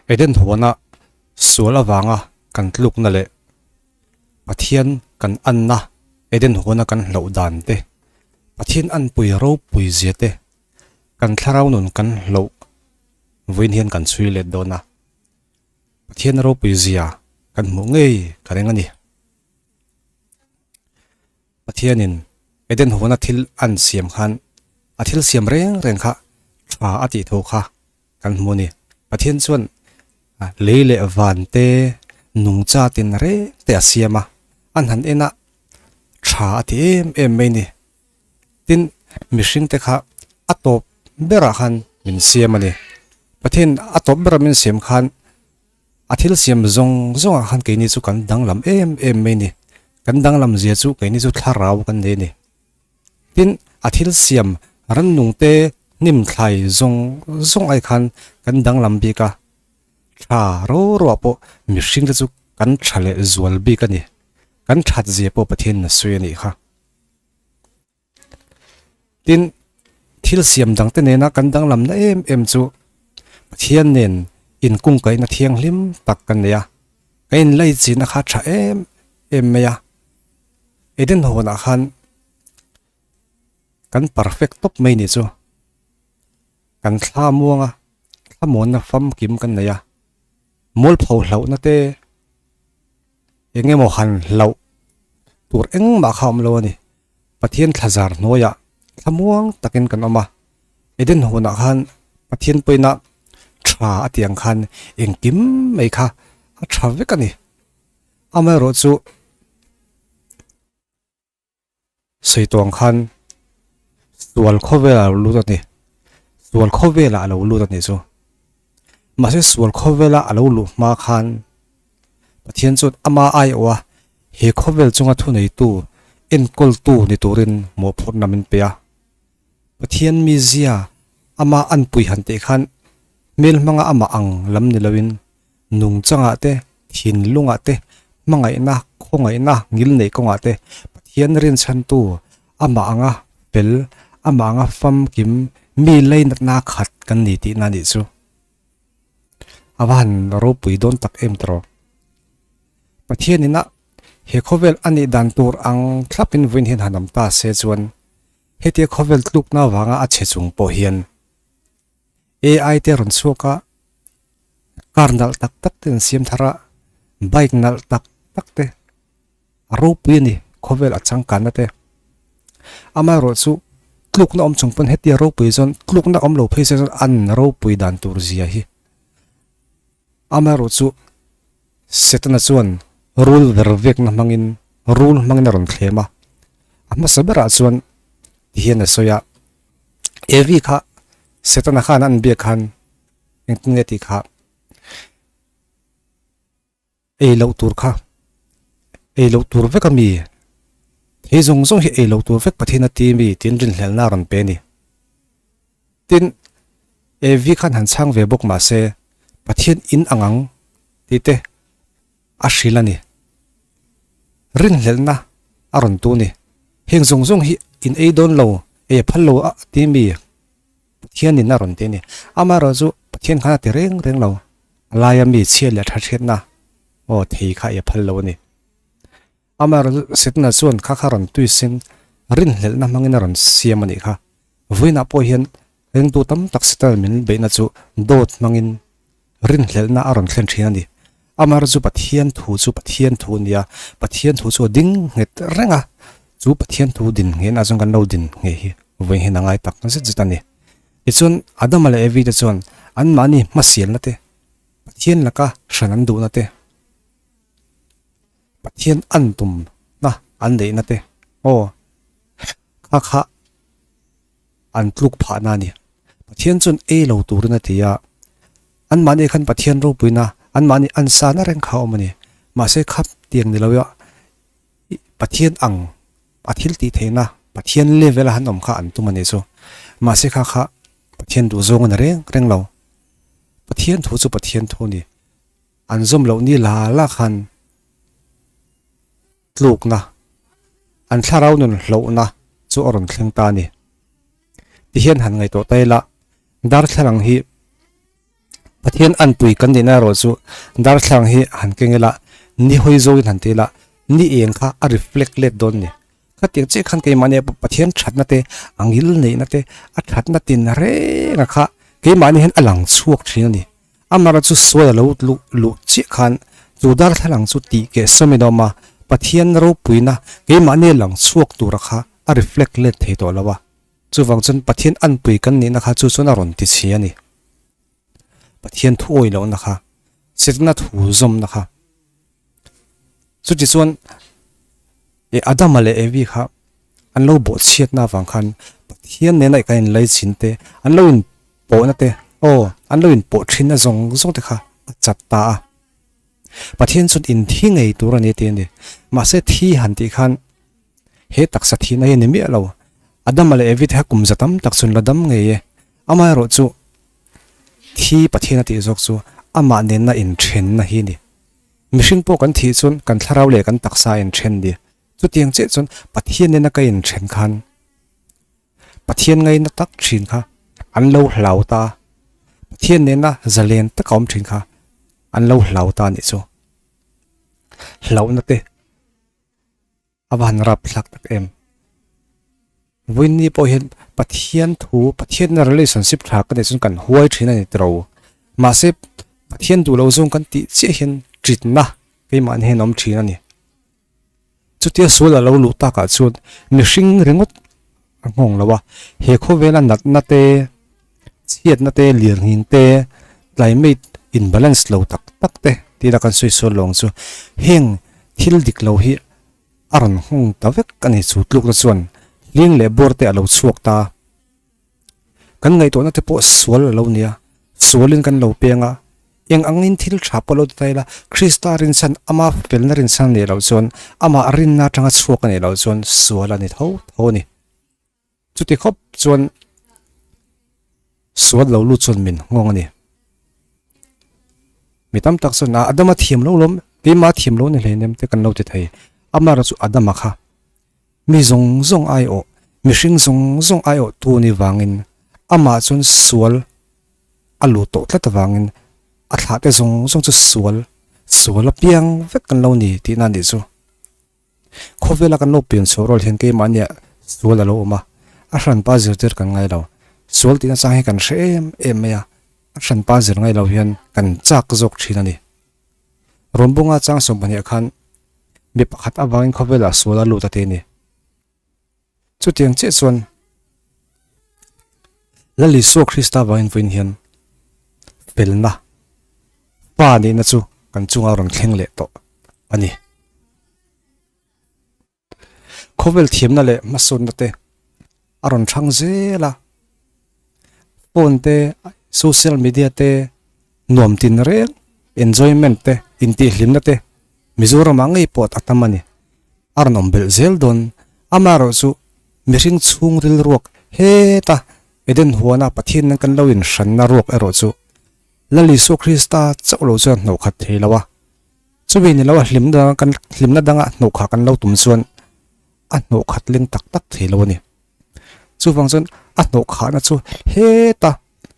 Eden huana sual avanga kan tlukna leh Pathian kan anna Eden huana kan hloh dan te, Pathian anpui ropui zia te kan thlarau nun kan hloh vawiin hian kan chhui let dawn a. Pathian ropui zia kan hmuh ngei ka ring a ni. Pathianin Eden huana thil a an siam khan a thil siam reng reng kha tha a tih thu kha kan hmu ni. Pathian chuan lei leh van te nung chat in reng te a siam a, a hnan en a tha a ti em em mai ni. Tin, mihring te kha a tawp ber ah khan min siam a ni. Pathian a tawp ber ah min siam khan a thil siam zawng zawng ah khan keini chu kan danglam em em mai ni. Kan danglam zia chu keini chu thlarau kan nih a ni. Tin, a thil siam rannung te hnim thlai zawng zawng ai khan kan danglam bik a, tha rawh rawh ah pawh mihring te chu kan tha leh zual bik a ni, kan that zia pawh Pathian in a sawi a nih kha. Tin, thil siam dang te nena kan danglam na em em chu Pathian nen in kungkai na thianghlim tak kan nei a, kan in lei chin a kha tha em em mai a, Eden hawnah khan kan perfect tawp mai ni chu kan thla muanga thlamuanna famkim kan nei a mawlpho hlauhna te engemaw han hlauh tur engmah kha a awm lo a ni Pathian thlazar hnuaiah thlamuang takin kan awm a Eden hawnah khan Pathian pawina tha a tiang khan engkim mai kha a tha vek a ni. Amaherawh chu, Saitawng khan sual khawvela lo lut a ni, sual khawvela a lo lut a nih chu. Mahse, sual khawvela a lo luh hma khan Pathian chuan ama aiawh a, he khawvel chunga thuneitu, enkawltu ni turin mawhphurhna min pe a. Pathian mizia ama a anpui han teh khan hmel hmanga amah ang lam ni loin nung changah te, thin lungah te, hmangaihna, khawngaihna, ngil neih kawngah te, Pathian rinchhantu amah anga fel, amah anga famkim mi lei natna khat kan ni tihna anih chu. A va han ropui dawn tak em tawh. Pathian ina he khawvel a nih dan tur ang thlapin vawiin hian han awm ta se chuan, hetia khawvel tlukna vanga a chhe chung pawh hian, AI te rawn chhuak a, car nalh tak tak te an siam thar a, bike nalh tak tak te, a ropui a ni, khawvel a changkanna te. Amaherawh chu tlukna awm chung pawn hetiang ropui chuan tlukna awm lo phei se chuan an ropui dan tur zia hi. Amaherawh chu Setana chuan rul ver vekna hmangin rul hmangin a rawn thlem a. A hmasa berah chuan ti hian a sawi a, Evi kha Setana khan a an biak khan engtin nge tih kha ei loh tur kha ei loh tur vek a mi, thei zawng zawng hi ei loh tur vek Pathian a ti mi tiin rinhlelna a rawn pe a ni. Tin, Evi khan han chhang ve bawk mahse, Pathian in ang ang tihte a hrilh a ni. Rinhlelhna a rawn tu ni. Heng zawng zawng hi in ei dawn lo, ei a phal lo a timi Pathian in a rawn ti a ni. Amaherawh chu Pathian khan a ti reng reng lo, a laia mi chhiat leh a tha chhiatna aw thei kha ei a phal lo a ni. Amah rawn sitna chuan kha kha rawn tui sin rinhlelhna hmangin a rawn siam a nih kha. Vawiinah pawh hian ringtu tam tak sital min beihna chu dawt hmangin rinhlelhna a rawn thlen thin a ni. Amar chu Pathian thu chu Pathian thu a nia, Pathian thu chu a ding nghet reng a, chu Pathian thu din nghenah chuan kan lo din nghe hi vawiin a ngai tak zet zet a ni. Tichuan Adama leh Evi te chuan anmahni hmasialna te, Pathian laka hran an duhna te, Pathian an tum na an leh na te aw kha kha an tluk phah na ni. Pathian chun ei lo tur na ti a. An mah ni khan Pathian ropui na an mah ni an sa na reng kha awm a ni. Mah se kha tiang ni lo a Pathian ang a thil tih theih na Pathian level a han awm kha an tum a ni chu. Mah se kha kha Pathian duh zawng a ni reng reng lo. Pathian thu chu Pathian thu a ni. An zawm loh ni la la khan tlukna, an thlarau nun hlawhna chu a rawn thleng ta a ni. Ti hian han ngaih tawh ta ila, darthlalang hi Pathian anpui kan nihna erawh chu darthlalang hi han keng ila, nihawi zawngin han ti ila, ni eng kha a reflect let dawn a ni. Khatiang chiah khan keimahni Pathian thatna te, a ngil neihna te, a thatna tinreng a kha keimahni hian a lang chhuak thin a ni. Amara chu suai a lo luh luh chiah khan chu darthlalang chu tih keh sawmin a awm a, Pathian ropuina keimahni lang chhuak tura kha a reflect let thei tawh lo a, chuvang chuan Pathian anpui kan nihna kha chu chuan a rawn ti chhi a ni. Pathian thuawih lohna kha, sirna thu zawmna kha. Chutichuan, he Adama leh Evi kha an lo bawh chhiatna avang khan Pathian nena kan inlei chin te, an lo inpawhna te, aw, an lo inpawh thinna zawng zawng te kha a chat ta a. Pathian chuan in thi ngei tur a ni tih a ni. Mahse, thi han tih khan he taksa thihna hi a ni miah lo. Adama leh Evi te kha kum za tam tak chu an la dam ngei e. Amaherawhchu, thi Pathiana tih zawk chu amah nena inthenna hi a ni. Mihring pawh kan thih chuan kan thlarau leh kan taksa a in then nia. Chutiang chiah chuan Pathian in a ka in then khan Pathian ngai na tak thin kha an lo hlau ta a, Pathian nena zalen tak a awm thin kha an lo hlau ta a nih chu. Hlauh na te. a va han rap thlak tak em? Vawiinni pawh hian Pathian thu, Pathianna relationship tha ka nih chuan kan huai thin a ni tlo. Mahse, Pathian duh lo zawng kan tih chiah hian ṭitna keimahni hian a awm thin a ni. Chutia sual a lo luh takah chuan mihring ringawt a nghawng lo a, he khawvela natna te, chhiatna te, lirngin te, climate imbalance lo tak tak te tila kan sawi sual lo ang chu heng thil dik lo hi a rawn nghawng ta vek a ni. Chu tlukna chuan hling leh bawr te a lo chhuak ta a, kan ngaihtuahna te pawh sual a lo nia, sualin kan lo peng a. Eng angin thil tha pawh lo ti ta ila, Krista rinsan ama felna rinsan a nih loh chuan amah rinna atanga chhuak a nih loh chuan sual a ni tho tho a ni. Chuti khawp chuan sual lo lut chuan min nghawng a ni. Mi tam tak chuan a Adama thiam lo lawm, keimah a thiam lo ni hlei nem te kan lo ti thei. Amaherawhchu Adama kha. Mi zawng zawng aiawh, mihring zawng zawng aiawh tu ni vangin amah chuan sual a luh tawh tlat avangin a thlahte zawng zawng chu sual sual apiang vek kan lo ni tihna anih chu. Khawvela kan lo pem chhuah rual hian keimahniah sual a lo awm a, a hran pa zir tir kan ngailo. Sual tihna chang hi kan hre em em mai a, a hran pa zir ngailo hian kan chak zawk thin a ni. Rawn bung a chang sawm pahnih khan mi pakhat avangin khawvelah sual a lut ati a ni. Chutiang chiah chuan Lal Isua Krista vang invawiin hian felna Pa nihna chu kan chunga rawn thleng leh tawh a ni. Khawvel thiamna leh hmasawnna te a rawn hrang zel a, phone te, social media te, nuam tin reng, enjoyment te, intihhlimna te Mizorama ngei pawh a tam a ni. A rawn awm belh zel dawn. Amaherawh chu mihring chhung rilruak heta Eden huana Pathianin kan lo inhran na ruak erawh chu Lal Isua Krista chauh lo chuan hnawhkhat thei lo a, Chumi ni lo a hlim dang kan hlimna danga hnawh khah kan lo tum chuan a hnawh khat leng tak tak thei lo a ni. Chuvang chuan a hnawh khahna chu heta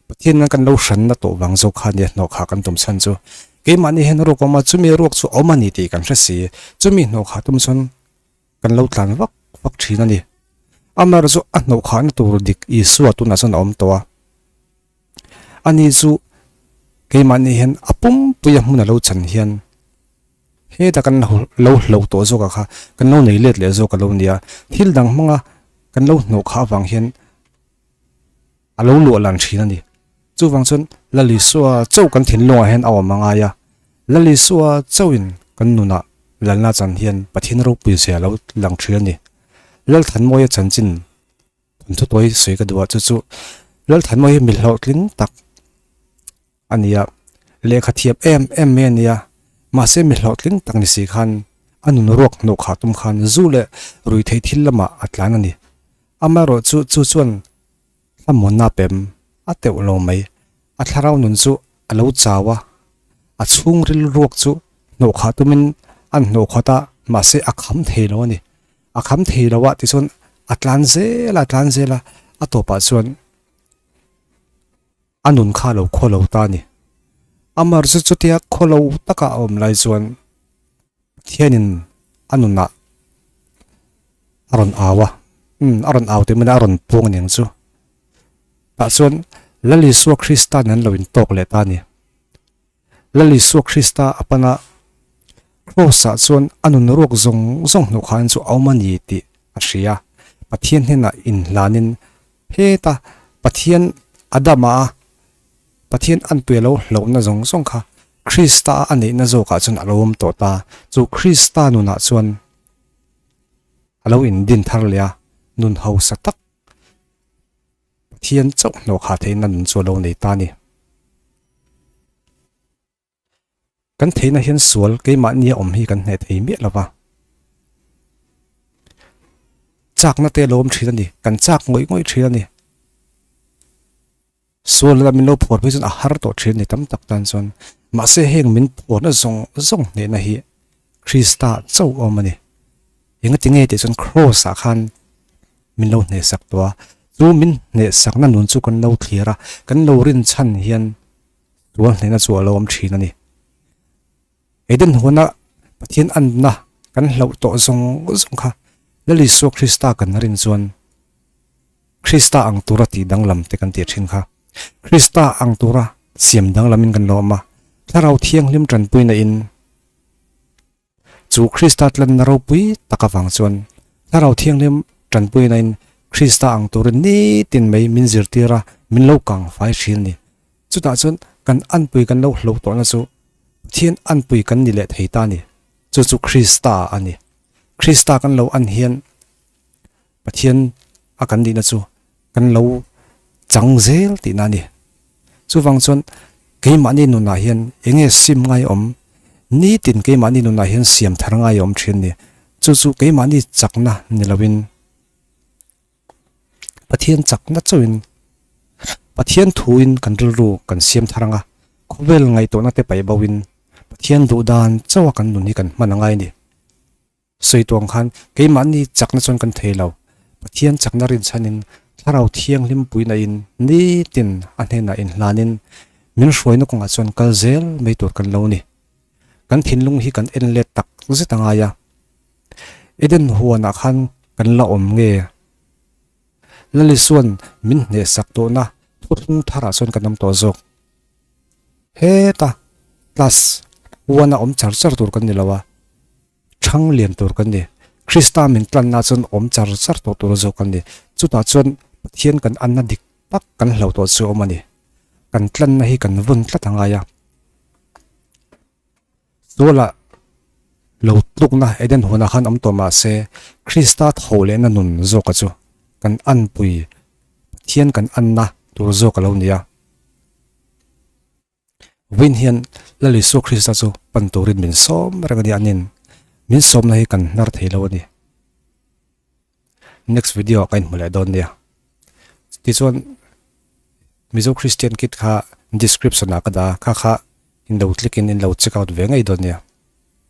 Pathian in kan lo hranna tawh vang zawk kha a ni a hnawh khah kan tum chhan chu. Keimahni hian ruak a awm a, chumi ruak chu a awm a ni tih kan hre si. Chumi hnawh khah tum chuan kan lo tlan vak vak thin a ni. Amar chu a hnawhkhahna tur dik Isua tunah chuan a awm tawh a. Ani chu keimahni hian a pumpuia hmun a lo chan hian heta kan lo hlauh tawh zawkah kha kan lo nei let leh zawk a lo ni a. Thil dang hmanga kan lo hnawhkhah avang hian, a lo luah lan thin a ni. Chuvang chuan Lalisua chauh kan thinlungah hian a awm a ngai a, Lalisua chauhin kan nunah Lalna chan hian Pathian ropui zia lo lang thin a ni. Lalthanmawia chanchin thawnthu tawi sawi ka duh a, chu chu Lalthanmawia hi mi hlauhtling tak, a nia, lehkha thiap em em mai a nia, mahse mi hlawhtling tak ni si khan a nun ruak hnawh khah tum khan zu leh rui theih thil lamah a tlan a ni. Amaherawh chu chu chuan hlamhawnna pem a teuh lo mai, a thlarau nun chu a lo chau a, a chhung ril ruak chu hnawh khah tumin an hnawh khuat a, mahse a kham thei lo a ni. A kham thei lo a tichuan a tlan zel a tlan zel a, a tawpah chuan. A nun kha lo khaw lo ta a ni. A marzu chutia khaw lo taka a awm lai chuan Pathianin a nunah a rawn au a, a rawn au tih mahna a rawn puang a ni ang chu. Tah chuan Lal Isua Krista-a'n an lo intawk leh ta a ni. Lal Isua Krista a pan a Kraws ah chuan a nun ruak zawng zawng hnu khain chu a awm a ni tih a hria a, Pathian hnenah inhlanin phet a, Pathian Adam a Pathian anpuia lo hlawhna zawng zawng kha Krista a neihna zawkah chuan a lo awm tawh ta, chu Krista nunah chuan a lo indin thar leh a, nun hausa tak. Pathian chauh hnawk ha thei nan chu alo nei ta ni. Kan theina hian sual keimahnia awm hi kan hne thei miah lova. Chakna te alo awm thin a ni, kan chak ngawih ngawih thin a ni. Sual leh min lo phuar pawh hi chuan a har tawh thin a ni tam tak tan chuan. Mahse heng min phuarna zawng zawng hnehna hi, Krista chauh awm a ni. Eng a ti nge tih chuan Kraws ah khan min lo hnehsak tawh a, chu min hnehsakna nun chu kan lo thlir a, kan lo rinchhan hian tual hnehna chu a lo awm thin a ni. Eden huna Pathian anna kan hloh tawh zawng zawng kha Lal Isua Krista kan rin chuan Krista ang tura tih danglam te kan tih thin kha, Krista ang tura siam danglam in kan lo awm a, Thlarau Thianghlim tanpuina in, Chu Krista tlanna ropui tak avang chuan Thlarau Thianghlim tanpuina in Krista ang turin nitin mai min zirtir a, min lo kang fai thin ni. Chutah chuan kan anpui kan lo hlo tawhna chu Pathian anpui kan ni leh thei ta ni, chu chu Krista a ni. Krista kan lo an hian Pathian a kan nihna chu kan lo chang zel tihna a ni. Chuvang chuan keimahni nunah hian enge sim ngai awm nitin keimahni nunah hian siam thar ngai a awm thin a ni. Chu chu keimahni chakna ni loin Pathian chakna chauhin Pathian thuin kan rilru kan siam thar ang a, khawvel ngaihtuahna te paih boin Pathian duh dan chauha kan nun hi kan hman a ngai a ni. Sawi tuang khan, keimahni chakna chuan kan thei lo. Pathian chakna rinchhanin, Thlarau Thianghlim puinain nitin a hnenah inhlanin min hruaina kawngah chuan kal zel mai tur kan lo ni. Kan thinlung hi kan en let tak zet a ngai a. Eden huanah khan kan la awm nge? Lali chuan min hneh sak duhna thutthlung tharah chuan kan awm tawh zawk. Heta, Class, huana awm char char tur kan ni lo a. Thang lian tur kan ni. Krista min tlanna chuan awm char char tawh tura zawk kan ni. Chutah chuan Pathian kan anna dik tak kan hlo tawh chu a awm a ni. Kan tlanna hi kan vun tlat a ngai a. Suala lo tlukna Eden hunah khan awm tawh mah se, Krista tho lehna nun zawkah chu kan anpui Pathian kan anna tur zawk a lo ni a. Vawin hian la Isua Krista chu pan turin min sawm reng ania anin min sawmna hi kan hnar thei lo ani. Next video ka inhmu leh dawn nia. Tichuan Mizo Christian kit kha description a ka da kha kha in lo click in in lo check out ve ngei dawn nia.